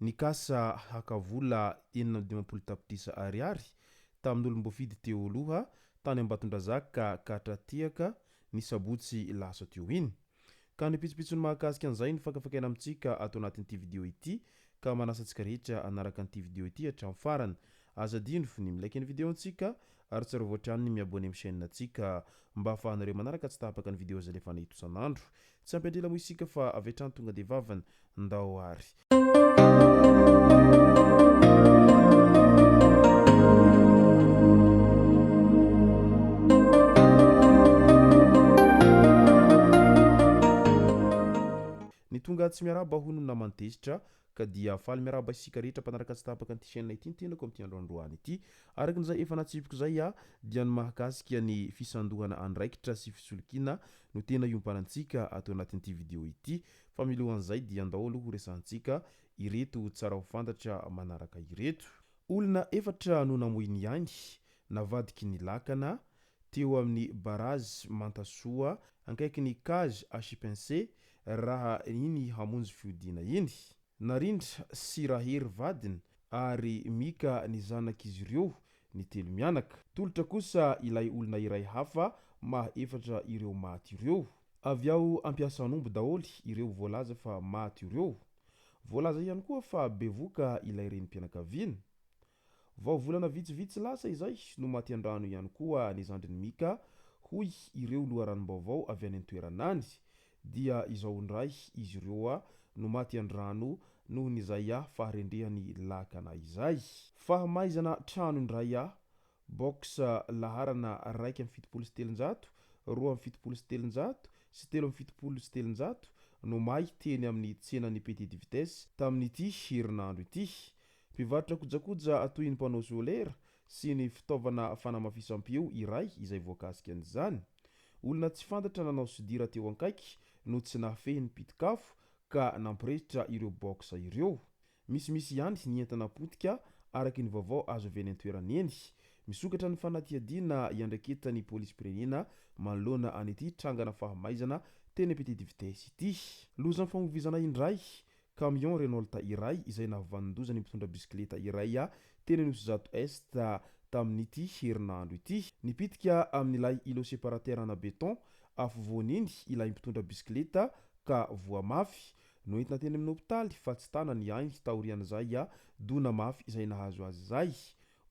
Nikasa haka vola enina amby dimampolo tapitrisa ariary tamin'olom-boafidy teo aloha tany Ambatondrazaka Katratiaka ny sabotsy lasa teo iny. Ka ny pitsopitsony mahakasika an'izay no fakafakaina amintsika ato anatin'ity video ity ka manasa antsika rehetra hanaraka an'ity video ity hatramin'ny farany. Aza adino ny mi-like ny video ntsika ary tsarovy hatrany ny mi-abonner amin'ny chaîne ntsika mba ahafahanareo manaraka tsy tapaka ny video izay alefanay itosan'andro Tsy ampy andrila moa isika fa avy hatrany tonga dia vavany. Ndao ary. Ny tonga tsy miarahaba hono naman-tezitra. Ka dia faly miarahaba isika rehetra mpanaraka tsy tapaka an'ity chaîne ity ny tenako amin'ity andro androany ity. Araka ny izay efa natsipiko izay aho dia ny mahakasika ny fisandohana andraikitra sy fisolokiana no tena iompanantsika ato anatin'ity video ity fa milohan'izay dia andao aloha horesahantsika ireto tsara ho fantatra manaraka ireto. Olona efatra no namoy ny ainy navadiky ny lakana teo amin'ny Barazy Mantasoa ankaikin'ny Cage à chipince raha iny hamonjy fiodiana iny. Narindra sy Rahery vadiny ary Mika ny zanak'izy ireo ny telo mianaka. Tolotra kosa ilay olona iray hafa maha efatra ireo maty ireo. Avy ao am-piasan'omby daholo ireo voalaza fa maty ireo. Voalaza ihany koa fa bevoka ilay renim-pianakaviana. Vao volana vitsivitsy lasa izay no maty an-drano ihany koa ny zandrin'i Mika, hoy ireo loharanom-baovao avy any an-toerana any. Dia izao indray izy ireo no maty an-drano noho ny izay faharendrehan'ny lakana izay. Fahamaizana trano indray, box laharana iraika amby fitopolo sy telonjato, roa amby fitopolo sy telonjato sy telo amby fitopolo sy telonjato no may teny amin'ny tsenan'ny Petite Vitesse tamin'ity herinandro ity. Mpivarotra kojakoja toy ny mpanao solera sy ny fitaovana fanamafisam-peo iray izay voakasika an'izany. Olona tsy fantatra nanao sodira teo ankaiky no tsy nahafehy ny pitik'afo ka nampiresitra ireo box ireo. Misimisy ihany ny entana potika, araka ny vaovao azo avy eny an-toerana eny. Misokatra ny fanadihadiana iandraiketan'ny polisim-pirenena manoloana an'ity trangana fahamaizana teny Petite Vitesse ity. Lozam-famovoizana indray, Kamiao Renault iray izay nahavanon-doza ny mpitondra bisikileta iray teny Anosizato Est tamin'ity herinandro ity. Nipitika amin'ilay îlot séparateur ana béton afovoany iny ilay mpitondra bisikileta ka voa mafy. Noentina teny amin'ny hopitaly fa tsy tana ny ainy taorian'izay dona mafy izay nahazo azy izay.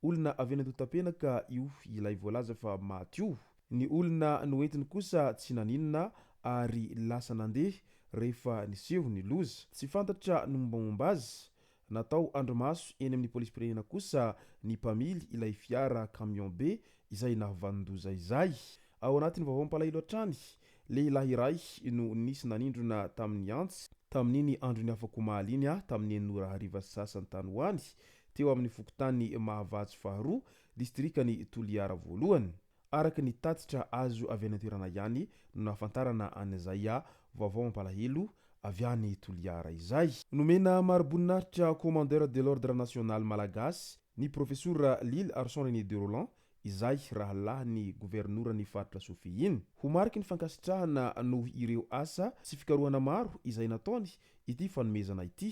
Olona avy any Antotapenaka io ilay voalaza fa maty io. Ny olona noentiny kosa tsy naninona ary lasa nandeha rehefa niseho ny loza. Tsy fantatra ny mombamomba azy. Natao andrimaso eny amin'ny polisim-pirenena kosa ny mpamily ilay fiara camion be izay nahavanon-doza izay. Ao anatin'ny vaovao mampalahelo hatrany, lehilahy iray no nisy nanindrona tamin'ny antsy, tamin'iny andron'ny afak'omaly iny, tamin'ny enina ora hariva sy sasany tany ho any, teo amin'ny fokontanin'i Mahavatsy faharoa, distrikan'i Toliara voalohany. Araka ny tatitra azo avy any an-toerana ihany no nahafantarana an'izay vaovao mampalahelo avy any Toliara izay. Nomena mariboninahitra Commandeur de l'Ordre National Malagasy ny Profesora Lily Arson René de Rolland izay rahalahin'ny Governoran'ny Faritra Sofia iny. Ho mariky ny fankasitrahana noho ireo asa sy fikarohana maro izay nataony ity fanomezana ity.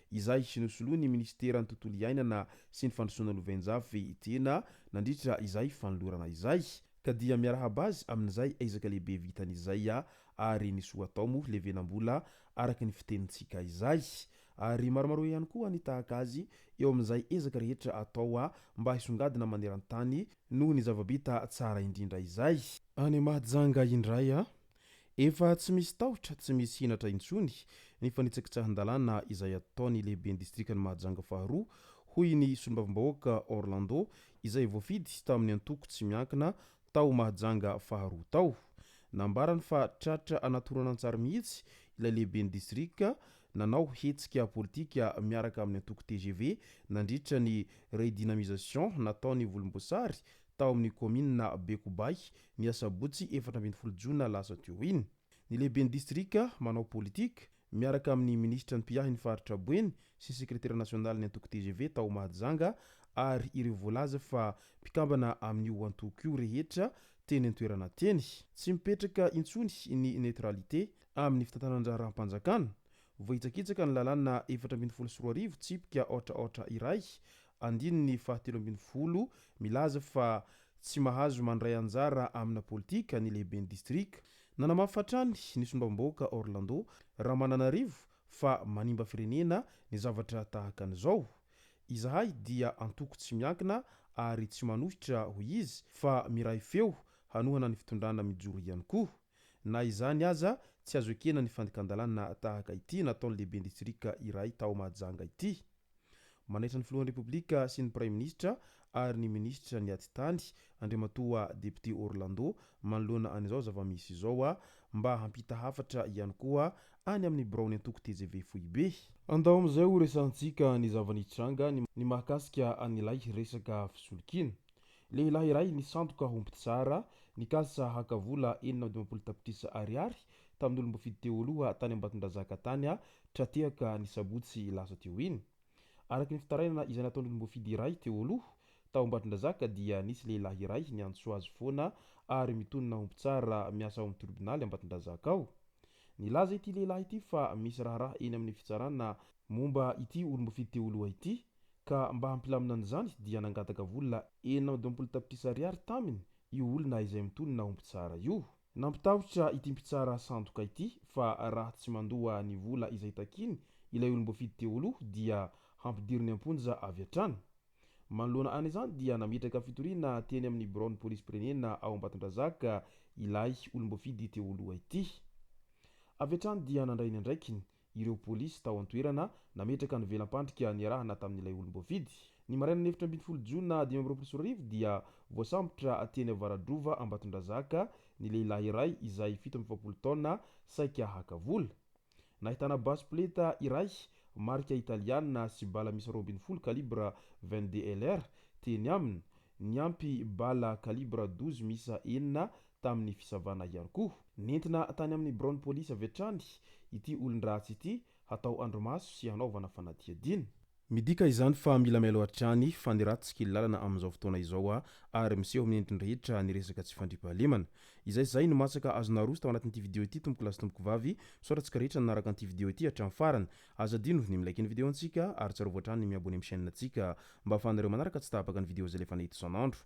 Izay nosoloin'ny minisiteran'ny Tontolo iainana sy ny fandrosoana lovainjafy tena nandritra izay fanolorana izay ka dia miarahaba azy amin'izay ezaka lehibe vitany izay ary ny soa atao moa levenam-bola araka ny fitenintsika izay ary maromaroa ihany koa ny tahaka azy eo amin'izay ezaka rehetra atao mba hisongadina maneran-tany noho ny zava-bita tsara indrindra izay any Mahajanga indray Efa tsy misy tahotra, tsy misy henatra intsony ny fanitsakitsahan-dalàna izay ataon'ny lehiben'ny distrikan'i Mahajanga faharoa, hoy ny solombavambahoaka Orlando izay voafidy tamin'ny antoko tsy miankina tao Mahajanga faharoa tao. Nambarany fa tratra anaty horonantsary mihitsy ilay lehiben'ny distrika nanao hetsika politika miaraka amin'ny antoko tgv nandritra ny redynamisation nataon'ny volomboasary tao amin'ny kaominina Bekobay, ny asabotsy efatra ambin'ny folo jona lasa teo iny. Ny lehiben'ny distrika manao politika, miaraka amin'ny minisitra ny mpiahin'ny faritra Boeny sy sekretera nasionalin'ny antoko tgv tao Mahajanga ary ireo voalaza fa mpikambana amin'io antoko io rehetra teny an-toerana teny. Tsy mipetraka intsony ny neutralité amin'ny fitantanan-draharaham-panjakana. Voahitsakitsaka ny lalàna efatra ambin'ny folo sy roa arivo tsipika aotra aotra iray Andininy fahatelo ambin'ny folo milaza fa tsy mahazo mandray anjara amina politika ny lehiben'ny distrika. Nanamafy hatrany ny solombavambahoaka Orlando Ramananarivo fa manimba firenena ny zavatra tahaka an'izao. Izahay dia antoko tsy miankina ary tsy manohitra, hoy izy, fa miray feo hanohana ny fitondrana mijoro ihany koa. Na izany aza, tsy azo ekena ny fandikan-dalàna tahaka ity nataon'ny lehiben'ny distrika iray tao Mahajanga ity. Manaitra ny Filohan'ny Repoblika sy ny Praiminisitra ary ny Minisitra ny Atitany, Andriamatoa Depiote Orlando, manoloana an'izao zava-misy izao, mba hampita hafatra ihany koa any amin'ny biraon'ny antoko tgv foibe. Andao amin'izay ho resahantsika ny zava-nitranga ny mahakasika an'ilay resaka fisolokiana. Lehilahy iray nisandoka ho mpitsara, nikasa haka vola enina amby dimampolo tapitrisa ariary tamin'olom-boafidy teo aloha tany Ambatondrazaka tany aho tra-tehaka ny sabotsy lasa teo iny. Araka ny fitarainana izay nataon'olom-boafidy iray teo aloha, tao Ambatondrazaka dia nisy lehilahy iray niantso azy foana ary mitonona ho mpitsara miasa ao amin'ny tribonaly Ambatondrazaka ao. Nilaza ity lehilahy ity fa misy raharaha eny amin'ny fitsarana momba ity olom-boafidy teo aloha ity ka mba hampilamina an'izany dia nangataka vola enina amby dimampolo tapitrisa ariary taminy io olona izay mitonona ho mpitsara io. Nampitahotra ity mpitsara sandoka ity fa raha tsy mandoa ny vola izay takiany ilay olom-boafidy teo aloha dia hampidiriny am-ponja avy hatrany. Manoloana an'izany dia nametraka fitoriana teny amin'ny biraon'ny polisim-pirenena ao Ambatondrazaka ilay olom-boafidy teo aloha ity. Avy hatrany dia nandray ny andraikiny ireo polisy tao an-toerana nametraka ny velampandrika niarahana tamin'ilay olom-boafidy. Ny marainan'ny efatra ambin'ny folo jona dimy amby roapolo sy roa arivo dia voasambotra teny Avaradrova Ambatondrazaka ny lehilahy iray izay fito amby efapolo taona saika haka vola. Nahitana basy poleta iray marika italiana sy bala miisa roa ambin'ny folo calibre vingt-deux LR teny aminy, niampy bala calibre douze miisa enina tamin'ny fisavana ihany koa. Nentina tany amin'ny biraon'ny polisy avy hatrany ity olon-dratsy ity hatao andrimaso sy hanaovana fanadihadiana. Midika izany fa mila mailo hatrany fa ny ratsy kely lalana amin'izao fotoana izao a! ary miseho amin'ny endriny rehetra ny resaka tsy fandriampahalemana. Izay izay no matsaka azonao aroso tao anatin'ity video ity tompoko lahy sy tompoko vavy, misaotra antsika rehetra nanaraka an'ity video ity hatramin'ny farany. Aza adino ny mi-like ny video antsika ary tsarovy hatrany ny mi-abonner amin'ny chaîne antsika mba afahanareo manaraka tsy tapaka ny video izay alefanay eto isan'andro.